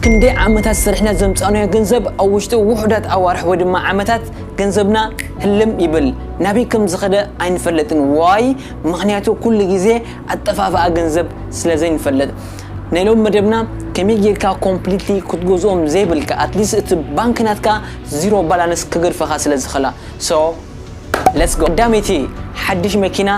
ክንደይ ዓመታት ሰሪሕና ዘምጻእናዮ ገንዘብ ኣብ ውሽጢ ውሑዳት ኣዋርሕ ወይ ድማ ዓመታት ገንዘብና ህልም ይብል ናበይ ከም ዝኸደ ኣይንፈልጥን why ምኽንያቱ ኩሉ ግዜ ኣጠፋፍኣ ገንዘብ ስለ ዘይንፈልጥ ናይ ሎሚ መደብና ከመይ ጌርካ ኮምፕሊትሊ ክትገዝኦም ዘይብልካ ኣትሊስት እቲ ባንክ ናትካ ዚሮ ባላንስ ክገድፈኻ ስለ ዝኽላ so Let's go ቀዳመይቲ ሓድሽ መኪና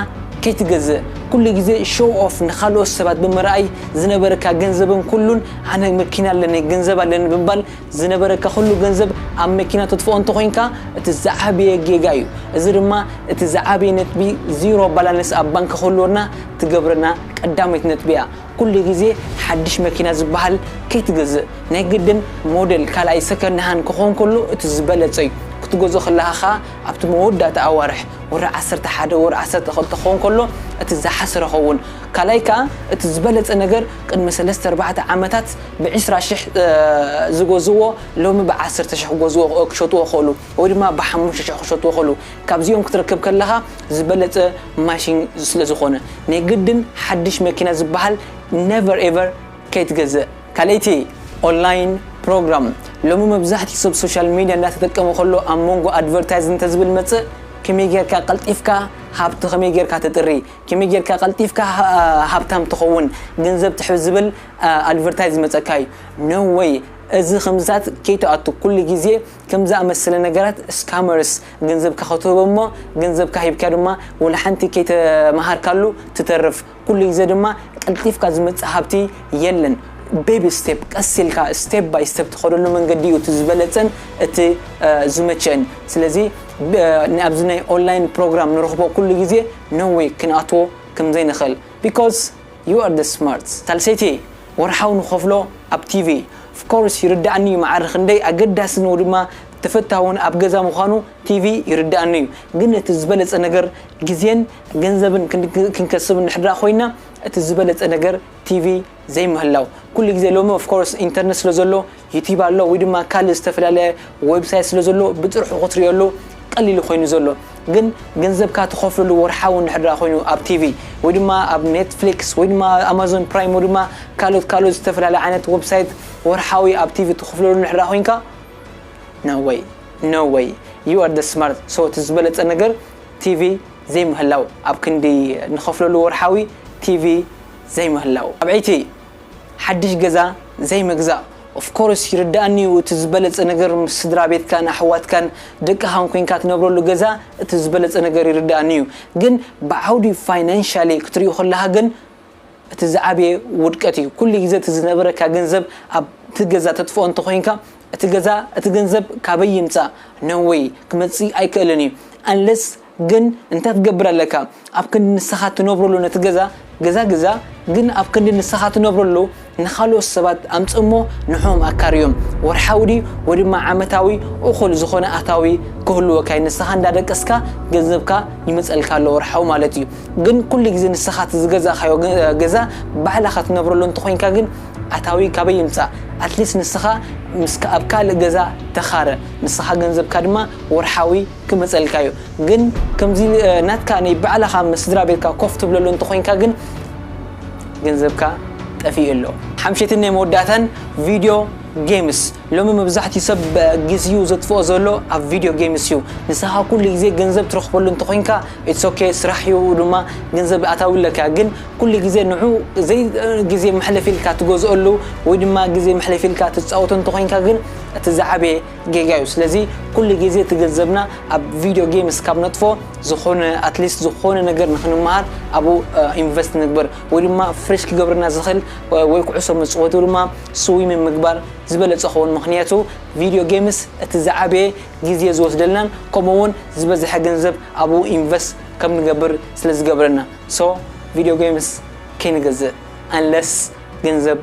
ከይትገዝእ ኩሉ ግዜ ሾው ኦፍ ንኻልኦት ሰባት ብምርኣይ ዝነበረካ ገንዘብን ኩሉን ኣነ መኪና ኣለኒ ገንዘብ ኣለኒ ብምባል ዝነበረካ ኩሉ ገንዘብ ኣብ መኪና ተጥፍኦ እንተኾይንካ እቲ ዝዓበየ ጌጋ እዩ እዚ ድማ እቲ ዝዓበየ ነጥቢ ዚሮ ባላንስ ኣብ ባንኪ ክህልወና ትገብረና ቀዳመይቲ ነጥቢ እያ ኩሉ ግዜ ሓድሽ መኪና ዝበሃል ከይትገዝእ ናይ ግድን ሞደል ካልኣይ ሰከንድ ሃን ክኾን ከሎ እቲ ዝበለጸ ዩ ክትገዝኦ ከለኻ ከኣ ኣብቲ መወዳእታ ኣዋርሕ ወርሒ ዓሰርተ ሓደ ወርሒ ዓሰርተ ክልተ ክኾን ከሎ እቲ ዝሓሰረ ኸውን ካልኣይ ከኣ እቲ ዝበለጸ ነገር ቅድሚ ሰለስተ ኣርባዕተ ዓመታት ብዕስራ ሽሕ ዝገዝእዎ ሎሚ ብዓሰርተ ሽሕ ክገዝእዎ ክሸጥዎ ክኽእሉ ወይ ድማ ብሓሙሽተ ሽሕ ክሸጥዎ ክኽእሉ ካብዚኦም ክትረክብ ከለኻ ዝበለጸ ማሽን ስለዝኾነ ናይ ግድን ሓድሽ መኪና ዝባሃል ነቨር ኤቨር ከይትገዝእ። ካልኣይቲ ኦንላይን ፕሮግራም ሎሚ መብዛሕቲኡ ሰብ ሶሻል ሚድያ እንዳተጠቀመ ከሎ ኣብ መንጎ ኣድቨርታይዝ እንተዝብል መጽእ ከመይ ጌርካ ቀልጢፍካ ሃብቲ ከመይ ጌርካ ተጥሪ ከመይ ጌርካ ቀልጢፍካ ሃብታም ትኸውን ገንዘብ ትሕብ ዝብል ኣድቨርታይዝ ዝመጸካ እዩ no way እዚ ከምዝታት ከይትኣቱ ኩሉ ግዜ ከምዝኣመሰለ ነገራት ስካመርስ ገንዘብካ ክትህቦ እሞ ገንዘብካ ሂብካ ድማ ወላሓንቲ ከይተማሃርካሉ ትተርፍ ኩሉ ግዜ ድማ ቀልጢፍካ ዝመጽእ ሃብቲ የለን ቤቢ ስቴፕ ቀስ ኢልካ ስቴፕ ባይ ስቴፕ ትኸደሉ መንገዲ እዩ እቲ ዝበለጸን እቲ ዝመቸእን ስለዚ ኣብዚ ናይ ኦንላይን ፕሮግራም ንረኽቦ ኩሉ ግዜ no way ክንኣትዎ ከምዘይንኽእል because you are the smart ሳልሰይቲ ወርሓዊ ንኸፍሎ ኣብ ቲቪ of course ይርዳኣኒ እዩ መዓረ ክንደይ ኣገዳሲ ነው ድማ ተፈታውን ኣብ ገዛ ምዃኑ ቲቪ ይርደኣኒ እዩ ግን እቲ ዝበለጸ ነገር ግዜን ገንዘብን ክንከስብ እንድሕር ደኣ ኮይና እቲ ዝበለጸ ነገር ቲቪ ዘይምህላው ኩሉ ግዜ ሎሚ ኦፍ ኮርስ ኢንተርነት ስለ ዘሎ ዩቲብ ኣሎ ወይ ድማ ካልእ ዝተፈላለየ ዌብሳይት ስለ ዘሎ ብጥርሑ ክትርእየሉ ቀሊሉ ኮይኑ ዘሎ ግን ገንዘብካ ትኸፍለሉ ወርሓዊ እንድሕር ደኣ ኮይኑ ኣብ ቲቪ ወይ ድማ ኣብ ኔትፍሊክስ ወይ ድማ ኣማዞን ፕራይም ወይ ድማ ካልኦት ካልኦት ዝተፈላለየ ዓይነት ዌብሳይት ወርሓዊ ኣብ ቲቪ ትኽፍለሉ እንድሕር ደኣ ኮይንካ No way No way You are the smart so እቲ ዝበለጸ ነገር ቲቪ ዘይምህላው ኣብ ክንዲ ንኸፍለሉ ወርሓዊ ቲቪ ዘይምህላው ኣብዕይቲ ሓድሽ ገዛ ዘይምግዛእ of course ይርድኣኒ እዩ እቲ ዝበለጸ ነገር ምስ ስድራቤትካን ኣሕዋትካን ደቅኻን ኮንካ ትነብረሉ ገዛ እቲ ዝበለጸ ነገር ይርድኣኒ እዩ ግን ብዓውዲ ፋይናንሻሊ ክትሪኡ ከለኻ ግን እቲ ዝዓበየ ውድቀት እዩ ኩሉ ግዜ እቲ ዝነበረካ ገንዘብ ኣብቲ ገዛ ተጥፍኦ እንተኮይንካ እቲ ገዛ እቲ ገንዘብ ካበይ ይምፃእ no way ክመፅእ ኣይክእልን እዩ unless ግን እንታይ ክትገብር ኣለካ ኣብ ክንዲ ንስካ ትነብረሉ ነቲ ገዛ ገዛ ግዛ ግን ኣብ ክንዲ ንስካ ትነብረሉ ንኻልኦት ሰባት ኣምጽእ እሞ ንዕኦም ኣካርዮም። ወርሓዊ ድዩ ወይ ድማ ዓመታዊ እኹል ዝኾነ ኣታዊ ክህልወካ እዩ። ንስኻ እንዳደቀስካ ገንዘብካ ይመጸልካ ኣሎ ወርሓዊ ማለት እዩ። ግን ኩሉ ግዜ ንስኻ እቲ ዝገዛእካዮ ገዛ ባዕላኻ ትነብረሉ እንተኾይንካ ግን ኣታዊ ካበይ ይምጻእ? ኣትሊስት ንስኻ ምስ ኣብ ካልእ ገዛ ተኻረ ንስኻ ገንዘብካ ድማ ወርሓዊ ክመጸልካ እዩ። ግን ከምዚ ናትካ ናይ ባዕላኻ ምስ ስድራቤትካ ኮፍ ትብለሉ እንተኾይንካ ግን። ገንዘብካ ጠፊኡ ኣሎ። ሓምሸትን ናይ መወዳእታን ቪድዮ ጌምስ ሎሚ መብዛሕትኡ ሰብ ግዚኡ ዘጥፍኦ ዘሎ ኣብ ቪድዮ ጌምስ እዩ። ንስኻ ኩሉ ግዜ ገንዘብ ትረኽበሉ እንተኾይንካ ኢትስ ኦኬ ስራሕ እዩ ድማ ገንዘብ ኣታዊ ኣለካ ግን ኩሉ ግዜ ንዑ ዘይ ግዜ መሕለፊ ኢልካ ትገዝኦሉ ወይ ድማ ግዜ መሕለፊ ኢልካ ትጻወቶ እንተኾይንካ ግን እቲ ዝዓበየ ጌጋ እዩ ስለዚ ኩሉ ግዜ እቲ ገንዘብና ኣብ ቪድዮ ጌምስ ካብ ነጥፎ ዝኾነ ኣትሊስት ዝኾነ ነገር ንክንመሃር ኣብኡ ኢንቨስት ንግበር ወይ ድማ ፍሬሽ ክገብረና ዝኽእል ወይ ኩዕሶ መፅወቲ ወይ ድማ ስዊሚን ምግባር ዝበለፀ ኸውን ምክንያቱ ቪድዮ ጌምስ እቲ ዝዓበየ ግዜ ዝወስደልናን ከምኡ እውን ዝበዝሐ ገንዘብ ኣብኡ ኢንቨስት ከም ንገብር ስለ ዝገብረና ሶ ቪድዮ ጌምስ ከይንገዝእ ኣንለስ ገንዘብ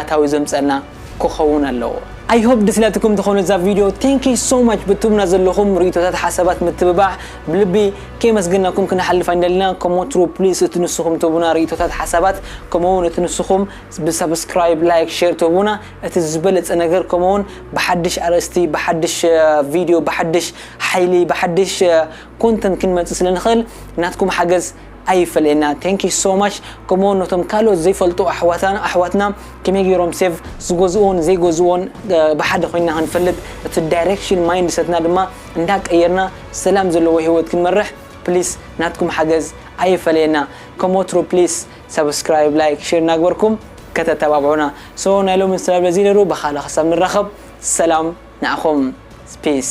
ኣታዊ ዘምጸልና ክከውን ኣለዎ። ኣይ ሆፕ ድስላትኩም ትኮኑ እዛ ቪድዮ ቴንኪይ ሶ ማች ብትቡና ዘለኩም ሪኢቶታት ሓሳባት ምትብባዕ ብልቢ ከየመስገናኩም ክንሓልፍ ኣይንደልና ከም ወትሩ ፕሊስ እቲ ንስኩም ትህቡና ሪኢቶታት ሓሳባት ከምኡ ውን እቲ ንስኩም ብሳብስክራይብ ላይክ ሼር ትህቡና እቲ ዝበለጸ ነገር ከምኡ ውን ብሓድሽ ኣርእስቲ ብሓድሽ ቪድዮ ብሓድሽ ሓይሊ ብሓድሽ ኮንተንት ክንመጽእ ስለ ንክእል ናትኩም ሓገዝ ኣይፈለየና thank you so much ከምኡ ውን ነቶም ካልኦት ዘይፈልጡ ኣሕዋታን ኣሕዋትና ከመይ ጌሮም ሴቭ ዝገዝኡዎን ዘይገዝኡዎን ብሓደ ኮይና ክንፈልጥ እቲ ዳይሬክሽን ማይንድሰትና ድማ እንዳ ቀየርና ሰላም ዘለዎ ሂወት ክንመርሕ ፕሊስ ናትኩም ሓገዝ ኣይፈለየና ከም ወትሩ ፕሊስ ሳብስክራይብ ላይክ ሼር እናግበርኩም ከተተባብዑና so ናይ ሎሚ ስለ በዚ ነሩ ብካልእ ክሳብ ንራኸብ ሰላም ንዓኹም ፒስ